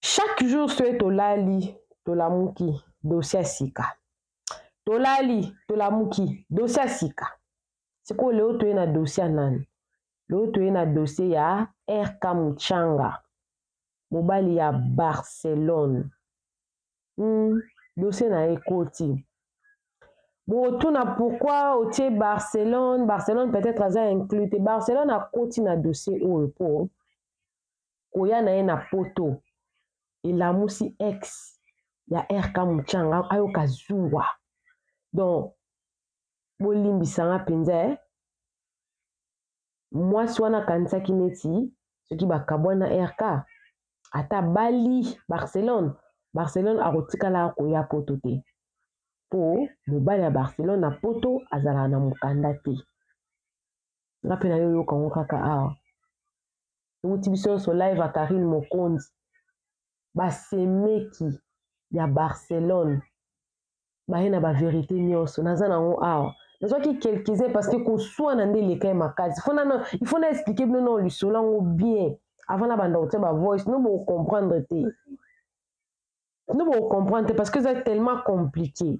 Chaque jour soki tolali tolamuki dossier ya sika tolali tolamuki dossier ya sika sikoyo leo toye na dossier ya nani leo toye na dossier ya rk muchanga mobali ya barcelone hmm, dossier na ye ekoti botuna pourquoi otie barcelone barcelone peut-être aza inclus te barcelone akoti na dossier oyo po koya na ye na poto elamusi ex ya RK Muchanga ayoka zuwa donc bolimbisa nga mpenza eh. Mwasi wana akanisaki neti soki bakabwani na RK ata bali Barcelone Barcelone akotikala koya poto te mpo mobali ya Barcelone na poto azalaka na mokanda te. Nga mpe nayoyoka yango kaka awa. ewuti biso nyonso live ya karine mokonzi basemeki ya barcelone baye na baverité nyonso naza na yango awa nazwaki quelques-uns parce que koswana nde eleka ye makasi il faut na explike bino nao lisolo yango bien avant na banda kotya bavoice no bocomprendre te no bocomprendre te parce que eza tellement compliqué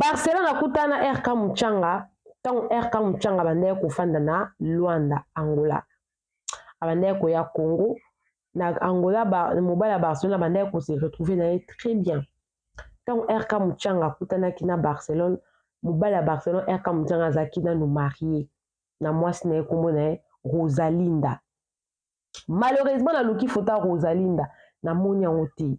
Barcelone akutana na RK Muchanga ntango RK Muchanga abandaki kofanda na Luanda, Angola. Abandaki koya Congo na Angola, mobali ya Barcelone abandaki kose retrouver na ye très bien. Ntango RK Muchanga akutanaki na Barcelone, mobali ya Barcelone RK Muchanga azalaki nanu marie na mwasi na ye nkombo na ye Rosalinda. Malheureusement naluki foto ya Rosalinda namoni yango te.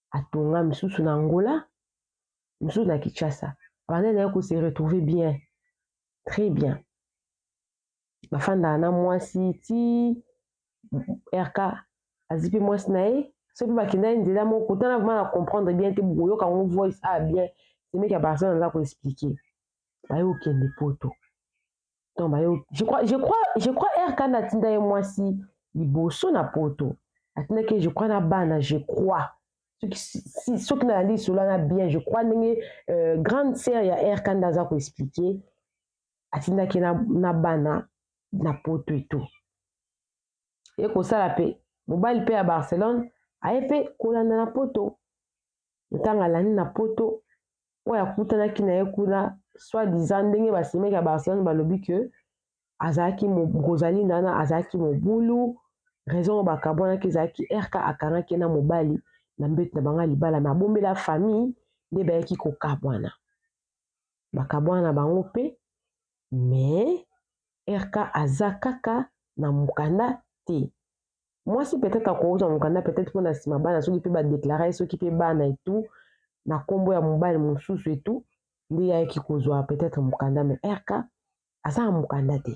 atonga misusu na Angola misusu na Kinshasa abandaki na ye ko se retrouver bien très bien bafandaka na mwasi ti RK azi mpe mwasi na ye soki mpe bakendaki nzela moko kotana vraimen na comprendre bien te bokoyoka yango voice a bien semeki ya barcelone aza koexplike baye kokende poto non bayo je crois je crois je crois RK na tinda ye mwasi liboso na poto atindaki ye je crois na bana je crois soki si, soki nalandi lisolo wana bien je crois ndenge euh, grande sœur ya RK nda aza koexplike atindaki na, na bana na poto eto ye kosala mpe mobali mpe ya barcelone aye mpe kolanda na poto Ntanga alandi na poto oyo akutanaki na ye kuna soit disant ndenge basemeki ya Barcelone balobi que azalaki kozali nana azalaki mobulu raison oyo bakabwanaki ezalaki RK akangaki ye na mobali na mbeto na bango ya libala me abombela famille nde bayaki kokabwana bakabwana na bango mpe mais RK aza kaka na mokanda te. mwasi peut-être akozwa mokanda peut-être mpo na nsima bana soki mpe badeklare soki mpe bana etu na nkombo ya mobali mosusu etu nde yayaki kozwa peut-être mokanda me rk aza na mokanda te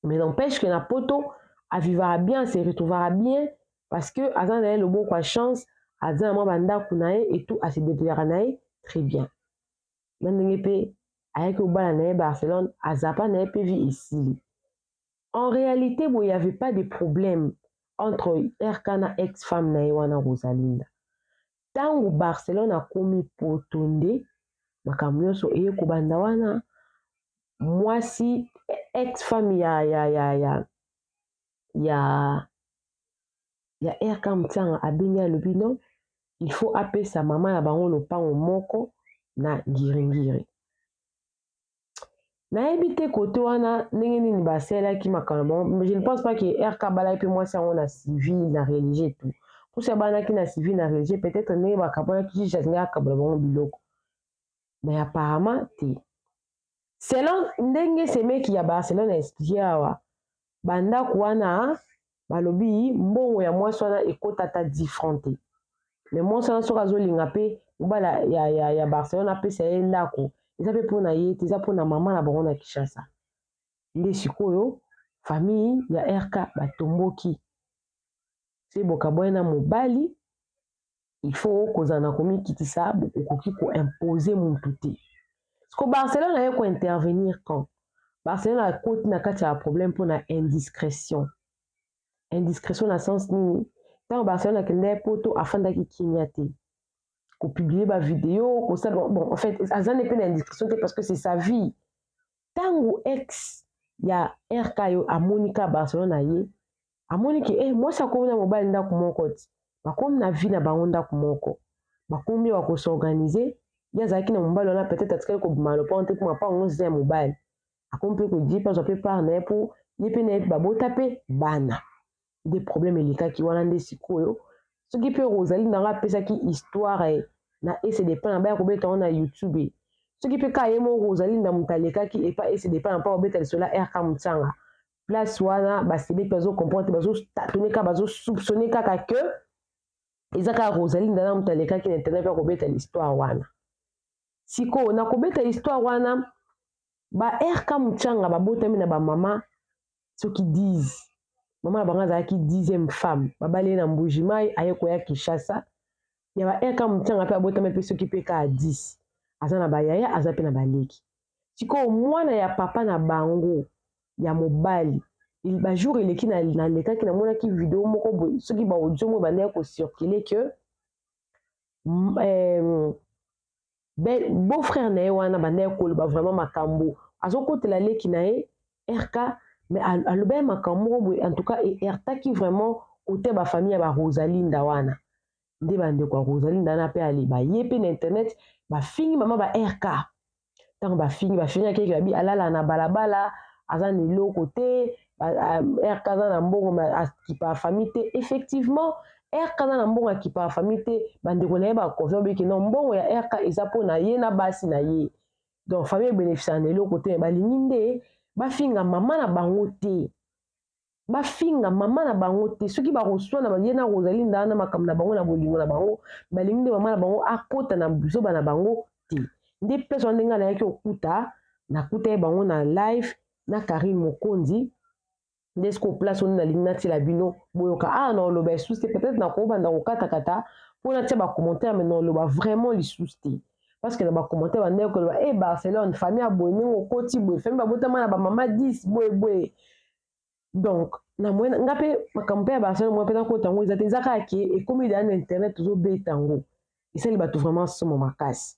mais n'empêche que na poto avivaka bien se retrouvaka bien parce que aza na ye loboko ya chance aza na mwa bandako na ye etu ase debrouillaka na ye très bien na ndenge mpe ayaki kobala na ye barcelone azapa na ye mpe vie esili En realite boye il y'avait pas de problème entre RK na ex femme na ye wana Rosalinda. Tango Barcelone akomi poto nde makambo nyonso eye kobanda wana mwasi ex femme ya ya ya ya ya ya RK Mtsanga abengi alobi non il faut apesa mama na bango lopango moko na ngiringiri. nayebi te kote wana ndenge nini basalelaki makambo mais je ne pense pas que rk abalaki mpe mwasi yango na civil na religieux tu mposo abalaki na civil na religieux peut-être ndenge bakabolaki juge alingi akabola bango biloko mais apparemment te selon ndenge semeki ya barcelone ya expliquer awa ba ndaku wana balobi mbongo ya mwasi wana ekota ata 10 francs te mais mwasi wana soki azolinga pe mobala ya, ya, ya barcelone apesa ye ndako eza pe mpona ye te eza mpona mama na bango na kinshasa nde sikoyo famille ya rk batomboki se bokabwani na mobali Il faut kozala na komikitisa, okoki ko imposer mutu te. Siko Barcelone aye ko intervenir quand? Barcelone akoti na kati ya problème mpo na indiscrétion. Indiscrétion na sens nini? Ntango Barcelone akendaki poto afandaki kimia te. Ko publier ba video, kosala bon en fait aza nde mpe na indiscrétion te parce que c'est sa vie. Ntango ex ya RK yo amoni ka Barcelone aye, amoni ke eh, mwasi akomi na mobali ndako moko ti bakomi na vie na bango ndako moko bakomi wa kosorganize ye azalaki na mobali wana peut-être atikali kobima lopango te mpo mapango nyonso eza ya mobali akomi mpe kodie mpe azwa mpe part na ye mpo ye mpe na ye babota mpe bana nde problème elekaki wana nde sikoyo soki mpe ozali nanga apesaki histoire na ese depa na baya kobeta yango na youtube soki mpe kaka ye moko ozali na moto alekaki epa ese depa na mpo kobeta lisolo ya rk motsanga place wana basebeti bazo comprendre bazo tatone kaka bazo soupçonne kaka que eza kaka rosalie ndana moto alekaki na internet mpe akobeta histoire wana sikoyo na kobeta histoire wana ba rk muchanga babotami na bamama soki 10 mama na bango azalaki 10e femme babali ye na mbuji mai aye koya kinshasa ya ba rk muchanga mpe abotami mpe soki mpe kaka 10 aza na bayaya aza mpe na baleki Sikoyo mwana ya papa na bango ya mobali ba jour eleki na, na lekaki na monaki video moko boye soki ba audio moko bandaki ko circuler que euh, ben, beau frère na ye wana bandaki koloba vraiment makambo azokotela leki na ye rk mais alobaki makambo moko boye en tout cas eheurtaki vraiment kote ya bafamille ya barosalinda wana nde bandeko ya rosaline dana mpe ale baye mpe na internet bafingi mama ba rk ntango bafingi bafingaki yeke babi alala na balabala aza na eloko te rk aza na mbongo akipa afami te effectivement rk aza na mbongo akipa afami te bandeko na ye baconfirme biki no mbongo ya rk eza mpo na ye na basi na ye donc famille ebénéficiaka na eloko te balingi nde bafinga mama na bango te bafinga mama na bango te soki bakoswana ye na rosaline ndaa na makambo na bango na bolingo na bango balingi nde mama na bango akota na zoba na bango te nde place wana ndenge nayaki kokuta nakuta ye bango na live na karine mokonzi nde siko place wana nalingi natiela bino boyoka awa ah, na oloba esusu te peut-être nakobanda kokatakata mpo natia bacommentaire mai na oloba vraiment lisusu te parce que na ba commentaire ba ndeko ba eh Barcelone famille ya boye ndenge okoti boye famille babotama na ba mama 10 boye boye donc na mwe nga pe makambo mpe ya Barcelone mwa mpe nakota yango eza te eza kaka ke ekomi deya na internet tozobeta yango esali bato vraiment somo makasi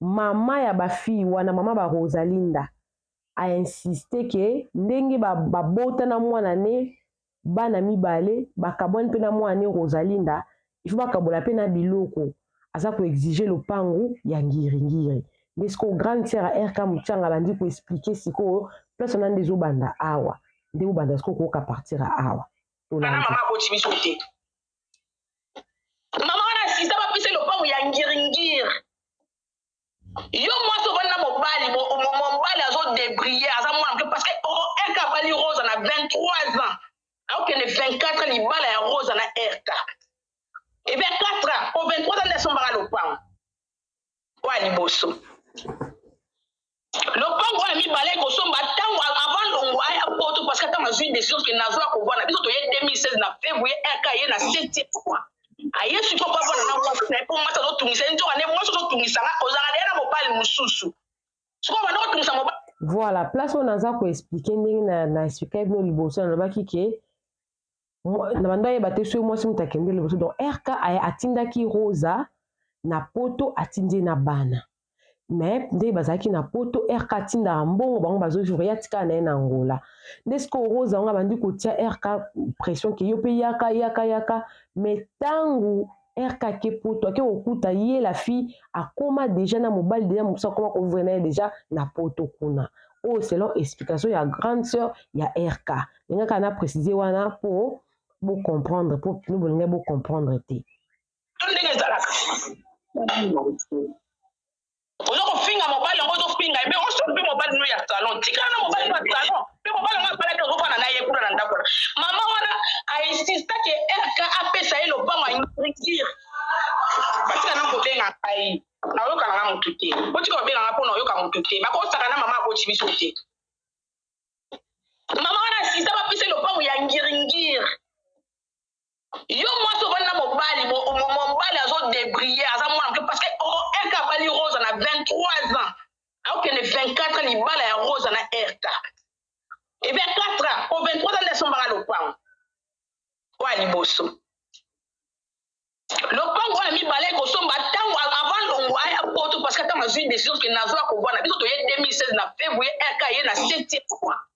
Mama ya ba filles wana, mama ba Rosalinda a insister que ndenge babota na mwana ne bana mibale, bakabwani pe na mwana ne Rosalinda, il faut bakabola pe na biloko. Aza ko exiger lopangu ya ngiri ngiri. Nde sikoyo grande sœur ya RK Mutshianga abandi ko expliquer sikoyo place wana nde ezobanda awa. Nde bobanda sikoyo kooka partir ya awa. Tolandi. Wana mama aboti biso te. mama wana asisa bapesa ye lopango ya ngiringiri yo mwasi ovandi na mobali mo- mo- mo- mobali azodebrille aza mwana moke parce que o- erka abali rosa na 23 ans aokende 24 libala ya rosa na erka ebe 4 ans po 23 ans nde asombaka lopango oyo ya liboso lopango oyo ya mibale ekosomba ntango avant longwa ya poto parce que ntango azwi décision ke nazwa kovanda biso toye 2016 na février rk ye na septième mois aye siko mpo avanda na mwasi na ye mpo mwasi azotungisa ye nzoka nde mwasi ozotungisa nga ozala deye na mobali mosusu siko banda kotungisa mobali voilà place oyo naza koexplike ndenge na, na explike bino liboso nalobaki ke na bando ayeba te soki mwasi moto akende liboso donc rk aya atindaki rosa na poto atindi ye na bana me ndenge bazalaki na poto rk atindaka mbongo bango bazovivre ye atikala na ye na angola nde sikoyo rosa yango abandi kotia rk pression ke yo mpe yaka yaka yaka me ntango RK ake poto ake kokuta ye la fille akoma deja na mobali deja mosusu akoma kovivre na ye deja na poto kuna oyo selon explication ya grande sœur ya RK lingaka na précise wana po bo comprendre po bino bolingai bo comprendre te ndenge ezalaka oza kofinga mobali yango ozofinga ye me oso mpe mobali no ya salon tikala na mobali no ya salon mpe mobali yango abalaki ozofana na ye kuna na ndako na mama wana ainsista ke rk apesa ye lopango aintrikire batika na kobenga ngai naoyokana na motu te botika kobenga ngai mpo naoyoka motu te bakosaka na mama aboti biso te mama wana asista bapesa lopango ya ngiringire yo mwasi ovandi na mobali mobali azo debrille aza mwana moke parce que erka abali rosa na 23 ans aokende 24 ans libala ya rosa na erka e 24 ans po 23 ans nde asombaka lopango oyo ya liboso lopango oyo ya mibale ekosomba ntango avant longo aya poto parce que ntango azwi décision ke nazwa kovanda biso toye 2016 na février erka ye na 7 mois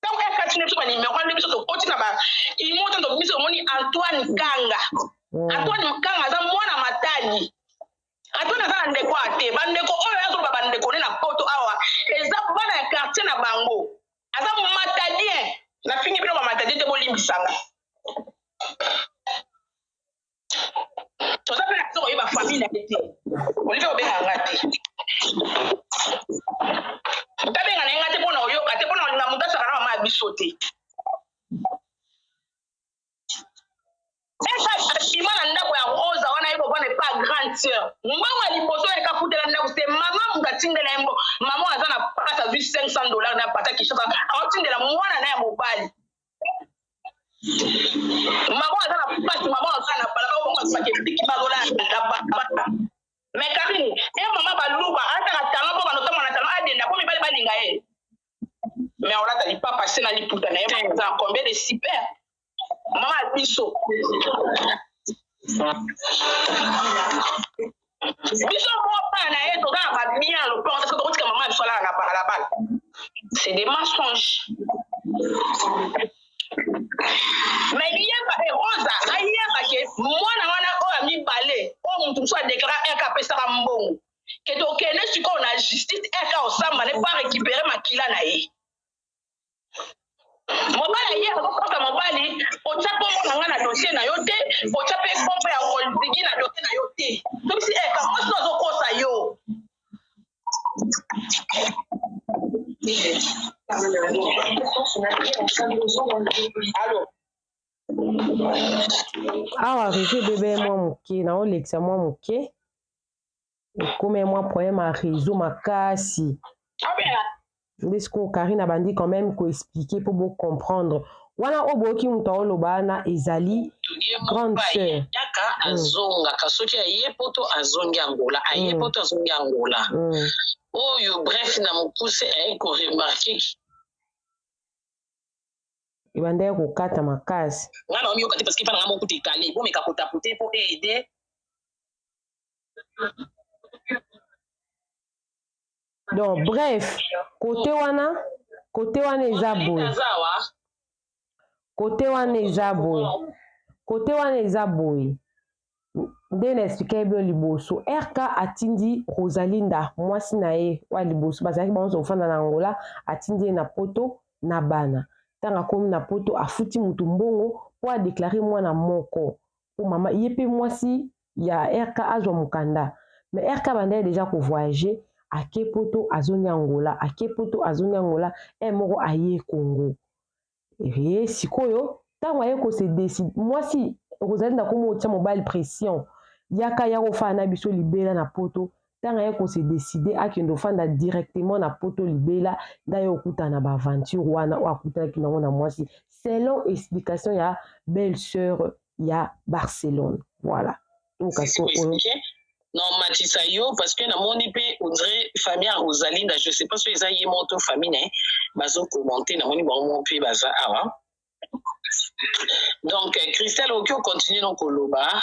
ntango ya kati na biso banimero wana biso tokoti na baimo ntango tobimisi omoni antoine kanga mm. antoine kanga aza mwana matali antoine aza na ndeko ya te bandeko oyo azoloba bandeko ne na poto awa eza bana ya quartier na bango aza matalien nafingi bino bamatadie te bolimbisanga toza mpe na biso koyeba famille na ye te olive obenga nga te tabenga na ye nga te mpo na oyoka te mpo na olinga moto asaka na mama ya biso te eshima na ndako ya rosa wana ye kovanda epa grande sœur mbongo ya liboso yeka futela ndako se mama moto atindela ye mbo mama aza na pasi azwi 500 dollar na pata kishasa aotindela mwana na ya mobali Maman aza na pasi, maman aza na bala, maman aza na kipiki, maman aza na bala. Mais Karine, e maman baluba, ata na talent po banoto mwana talent adenda po mibali balinga ye. Mais olata lipapa se na liputa na ye, maman aza na combien de super? Maman biso. biso moko bana na ye toza na babien ya lopango te soki tokotika mama ya biso alala na balabala c'est des mensonges me yeba e rosa ayeba ke mwana wana oyo ya mibale oyo moto mosusu adeklara eke apesaka mbongo ke tokende sikoyo na justice eke osamba ne po arécupere makila na ye mobali ye akokota mobali otya nkombo na ngai na dosie na yo te otya mpe nkombo ya olzigi na dosie na yo te tobisi e eh, kamosi azokosa yo alo awa reseau ebebe mwa moke naolekisa mwa moke Comme un mois problème à réseau makasi. Nde sikoyo Karine abandi quand même ko expliquer mpo bo comprendre. Wana oyo boyoki moto aoloba wana ezali grande sœur. Yaka mm. azongaka soki aye poto azongi Angola, aye mm. poto azongi Angola. Mm. Oyo bref na mokuse aye ko remarquer ebandaki kokata makasi. Nga na omiyoka te parce que pa na nga moko te kale. Bomeka kotapote mpo aide donc bref kote wana kote wana eza boye kote wana eza boye kote wana eza boye nde na explike bino liboso rk atindi rosalinda mwasi na ye wa liboso bazalaki bango nyonso kofanda na angola atindi ye na poto na bana ntango akomi na poto afuti motu mbongo mpo adeklare mwana moko mpo mama ye mpe mwasi ya RK azwa mukanda mais RK abandaki dejà ko voyager ake poto azongi Angola ake poto azongi Angola heure moko aye Congo hee sikoyo tango aye ko se decide mwasi Rosalinda komo otia mobali pression yaka yaka ofanda na biso libela na poto tango aye ko se decider akende ofanda directement na poto libela nde aye okutana ba aventure wana oyo akutanaki nango na mwasi selon explication ya belle sœur ya Barcelone voilà occasion oyo normatisa yo parce que namoni mpe ondire famille ya rosalinda je sais pas so eza ye moko to famille na ye bazo commente namoni bango moko mpe baza awa donc christelle okoki ocontinue no koloba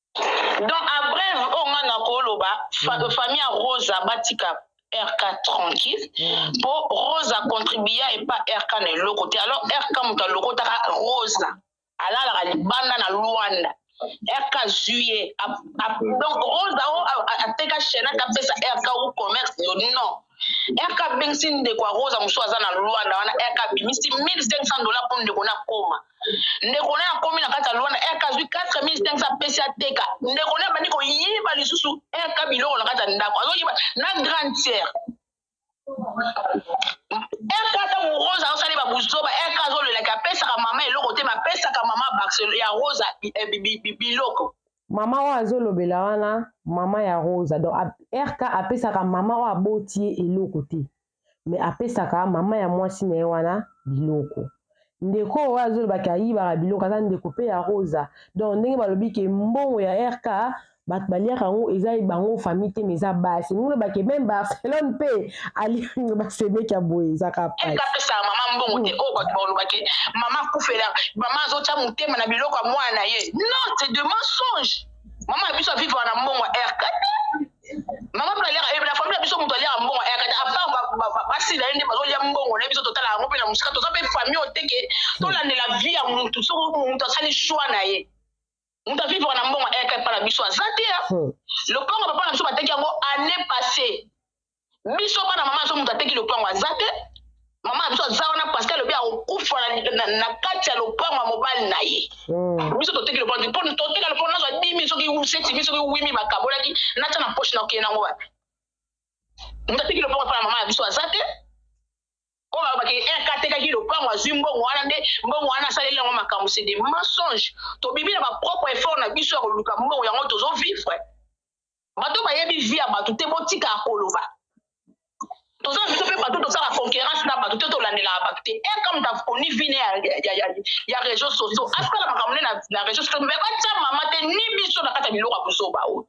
Donc a brève oyo nga na ko loba mm. famille ya Rosa batika RK tranquille mm. po Rosa contribuer et pas RK na eloko te alors RK moto alokotaka Rosa alalaka libanda na Luanda RK juillet donc Rosa ateka chaîne apesa RK ou commerce non RK abengisi ndeko ya Rosa mosusu aza na Luanda wana RK abimisi 1500 dollars pour ndeko na koma. Ndeko na akomi na kati ya Luanda RK azwi 4500 apesi ateka. Ndeko na abandi koyiba lisusu RK biloko na kati ya ndako. Azoyiba na grande sœur. RK ata Rosa azosali ba buzoba RK azolela ke apesaka mama eloko te, mais apesaka mama Barcelone ya Rosa eh, biloko. Maman oyo azo lobela wana maman ya Rosa donc RK apesaka maman oyo aboti ye eloko te mais apesaka maman ya mwasi na ye wana biloko ndeko oyo azo loba ke ayibaka biloko aza ndeko pe ya Rosa donc ndenge balobi ke mbongo ya RK bato baliaka yango eza bango famille te mais eza basi ndenge oloba ke meme Barcelone pe aliango basemeki ya boye ezaka apesaka mama mbongo te oyo bato bakolobake mama akufela mama azotya motema na biloko ya mwana na ye non c'est de mensonge mama ya biso avivaka na mbongo ya rk te mama mpe aliaka eh, na famille ya biso moto aliaka mbongo ya rk te apart basi na ye nde bazolya mbongo na ye biso totala yango mpe na mosika toza mpe famille oteke tolandela vie ya motu soki motu asali choix na ye moto avivaka na mbongo ayaka epa na biso aza te ya hmm. lopango papa na biso bateki yango année passé biso bana mama biso moto ateki lopango aza te mama na biso aza wana paske alobi akokufa na kati ya lopango ya mobali na ye hmm. biso toteki lopango te mpo toteka lopango nazwa dimi soki setimi soki wimi bakabolaki natya na poshe na okende yango wapi moto ateki lopango epa na mama na biso aza te oyo balobaki eke atekaki lopango azwi mbongo wana nde mbongo wana asaleli yango makambo c'est des mensonges tobimi na ba propre effort na biso ya koluka mbongo yango tozo vivre bato bayebi vie ya bato te botika ya koloba toza biso mpe bato tosala concurrence na bato te tolandelaka bato te e comme ta oni vine ya réseau socio asala makambo ne na réseau socio me batya mama te ni biso na kati ya biloko ya buzoba oyo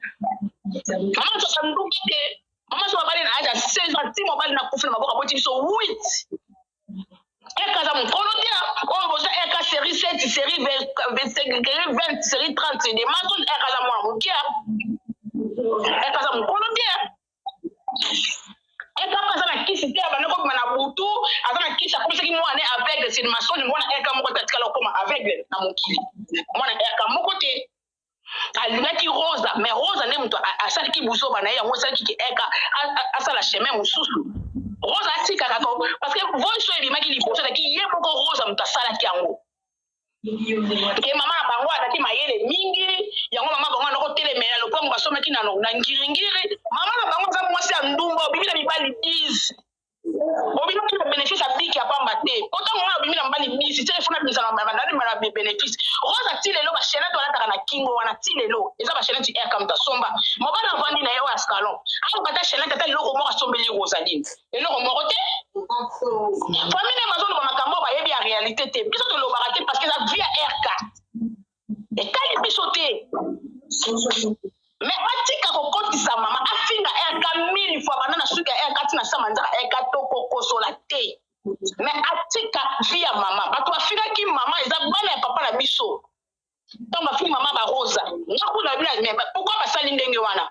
mama tosanduki te Maman soba bali na âge ya 16 ans ti mobali na kufi na maboko aboti biso 8 eka aza mokolo te oyo boza eka série 7 série 20 série 30 de maso eka aza mwana moke eka aza mokolo te eka aza na kisi te abanda kobima na butu aza na kisi akomisaki mwana aveugle sini masoni mwana eka moko te atikala okoma aveugle na mokili mwana eka moko te alingaki rosa mais rosa nde moto asalaki buzoba na ye yango esalaki ke eka asala chemin mosusu rosa atikaka ko parce que voice oyo ebimaki liboso ezalaki ye moko rosa moto asalaki yango ke mama na bango azalaki mayele mingi yango mama bango anakotelemela lopango basomaki na ngiringiri mama na bango aza mwasi ya ndumba obimi na mibali 10 obimaki na benefice ya biki ya pamba te po ntango ngai obimi na mbali bisi te efuna bizala na benefice rosa ti lelo bashenete walataka na kingo wana ti lelo eza bashenete ya kamta somba mobali avandi na ye oyo ya salon aluka ata shenete ata eloko moko asombeli rosaline eloko moko te famille bazoloba makambo bayebi ya réalité te biso tolobaka te parce que eza vie ya rk etali biso te me batika kokotisa mama afinga rk mille fois banda na suki ya rk tina sama nzaka rk tokokosola te me atika vi ya mama bato bafingaki mama eza bana ya papa na biso ntango bafingi mama barosa nakuna bino me pourkui basali ndenge wana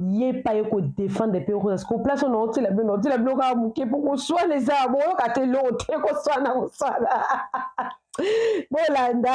ye pa ye ko defendre pe okoza siko place oyo naotila bino naotila bino kaka moke mpo koswana eza boyoka te eloko te koswana koswana bolanda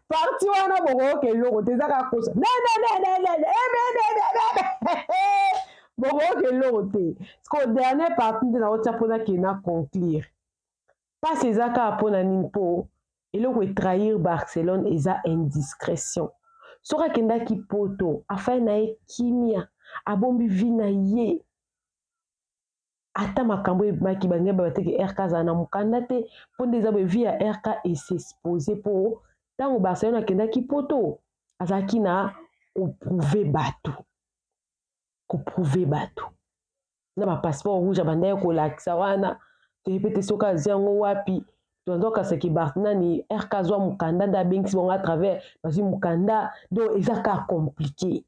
parti wana bokoyoka eloko te eza kaka kosa bokoyoka eloko te ko dernier parti nde naotia mpona ke na conclure mpasi eza kaka mpona nini mpo eloko etrahir barcelone eza indiscrétion soki akendaki poto afai na ye kimia abombi vi na ye ata makambo ebimaki balingi baloba te ke RK azala na mokanda te mpo nde eza boye vie ya RK e s'expose mpo ntango Barcelone akendaki poto azalaki na koprouve bato koprouve bato na ba passeport rouge abandaki kolakisa wana toyebi mpe te soki azwi yango wapi tozokasaki nani RK azwa mokanda nde abengisi bango à travers bazwi mokanda donc eza ka compliqué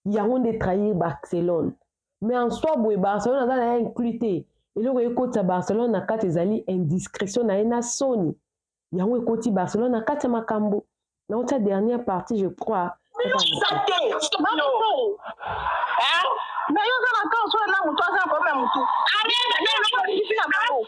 yango nde trahir barcelone mais en soi boye barcelone aza na ye inclus te eloko ekotisa barcelone na kati ezali indiscrétion na ye na soni yango ekoti barcelone na kati ya makambo naotya dernière partie je crois nayo oza na ntango soki na moto aza na problème ya motu na bango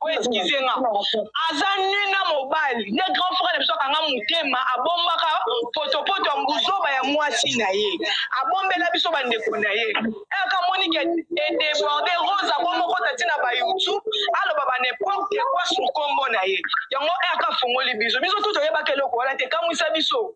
Ko excuse nga. Aza nu na mobali. Nde grand frère na biso akanga motema abombaka potopoto ya mbuzoba ya mwasi na ye. Abombela biso ba ndeko na ye. Heure ka moni ke e deborde Rose abongo kota ti na ba YouTube aloba ba n'importe quoi sur kombo na ye. Yango heure ka fongoli biso. Biso tout toyebaka eloko wana te. Kamwisa biso.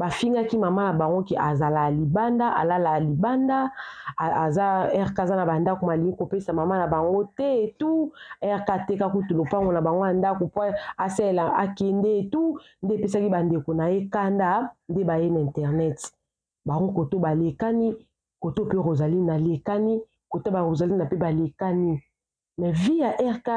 bafingaki mama na bango ke azala libanda alala libanda aza rk aza na bandako malingi kopesa mama na bango te etu rk ateka kutu lopango na bango ya ndako po asalela akende etu nde epesaki bandeko na ye kanda nde baye na internet bango koto balekani koto mpe rosaline alekani kota ba rosaline mpe balekani Mais vie ya RK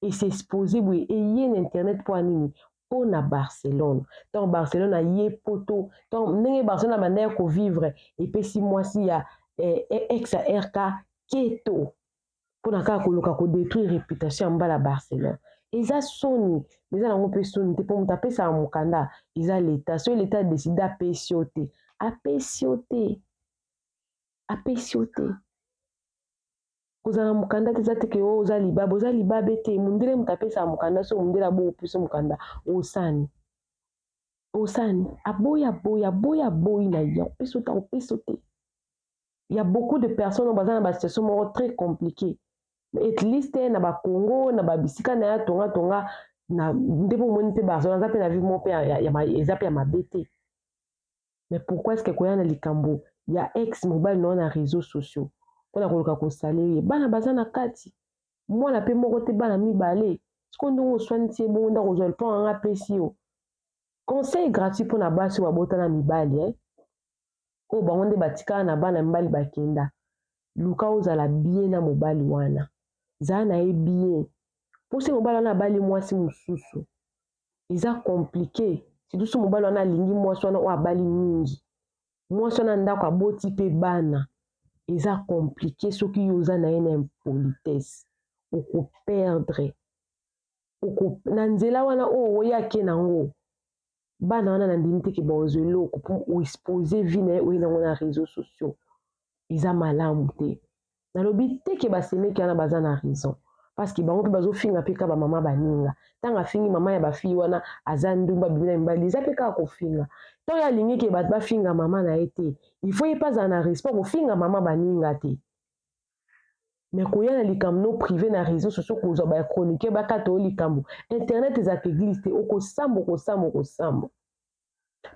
e s'exposer boye eye na internet mpo ya nini? Mpo na Barcelone. Ntango Barcelone aye poto, ntango ndenge Barcelone abanda ya kovivre epesi mwasi ya eh, eh, ex ya RK keto mpo na kaka koluka kodetruire reputation ya mbala Barcelone. Eza soni, eza nango mpe soni te mpo moto apesaka mokanda eza leta. Soki leta adeside apesi yo te, apesi yo te, apesi yo te. Kozala na mokanda te eza te ke o oh, oza libabe, oza libabe te. Mundele moto apesaka mokanda so mundele aboyi opesa mokanda, osani. Osani, aboyi aboyi, aboyi aboyi na ye, akopesa te, akopesa te. Il y a beaucoup de personnes oyo baza na ba situation moko très compliquée. At least na ba Congo, na ba bisika na ya tonga tonga, na nde bomoni mpe Barcelone aza mpe na vie moko mpe eza mpe ya mabe te. Mais pourquoi est-ce que koya na likambo ya ex mobali na yo na réseaux sociaux mpo na koluka kosalele ye bana baza na kati mwana mpe moko te bana mibale sikoyo ndenge oswanisi ye bongo ndako ozwa liponga nga apesi yo conseil gratuit mpo na basi oyo babota na mibali eh? oyo bango nde batikala na bana mibali bakenda luka ozala bie na mobali wana zala na ye bie mposi mobali wana abali mwasi mosusu eza compliquer sidusu mobali wana alingi mwasi wana oyo abali mingi mwasi wana ndako aboti mpe bana eza komplike soki yo oza na ye na impolitesse okoperdre oko na nzela wana oyo oye ake na yango bana wana na ndimi teke baozo eloko mpo oexpose vie na ye oye nango na réseau sociaux eza malamu te Nalobi te ke ba semeki wana baza na raison parceque bango pe bazo finga pe ka ba mama baninga tango afingi mama ya ba fille wana aza ndumba abimi na mibali eza pe kaka kofinga tango ye alingi ke bato bafinga mama na ye te il faut ye pe azala na respect kofinga mama baninga te mais koya na likambo no prive na réseau sociaux kozwa ba chroniqueur bakata yo likambo internet ezalaka eglise te okosambo okosambo okosambo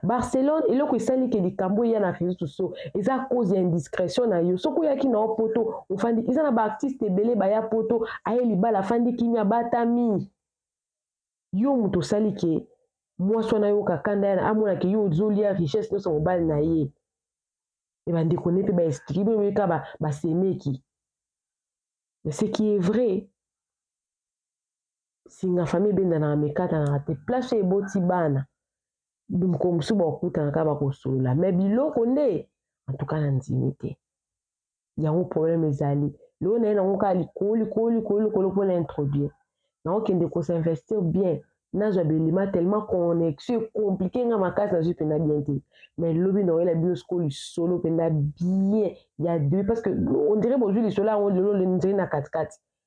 barcelone eloko esali ke likambo eya na réseau sociaux eza cause ya indiscrétion na yo soki oyaki na yo poto ofandi eza na baartiste ebele baya poto aye libala afandi kimia batami yo moto osali ke mwasi wana ayoka kanda yana amona ke yo ozolia richesse nyonso ya mobali na ye e bandeko ne mpe baexplike bino boyeka basemeki ba mais ce qui est vrai singa famille ebendanaka mikatanaka te place oyo eboti bana mokolo mosusu bakokutanaka bakosolola me biloko nde antuka na ndimi te yango problème ezali lelo naye nango kaka likolo likolo likolo likolo mpona introduire nakokende kosinvestir bien nazwa belima tellement connexion ekomplike nga makasi nazwi mpenza bien te mais lobi nakoyela bino sikoyo lisolo mpenza bien ya debe parce que ondire bozwi lisolo yango lelo nzeli na katikati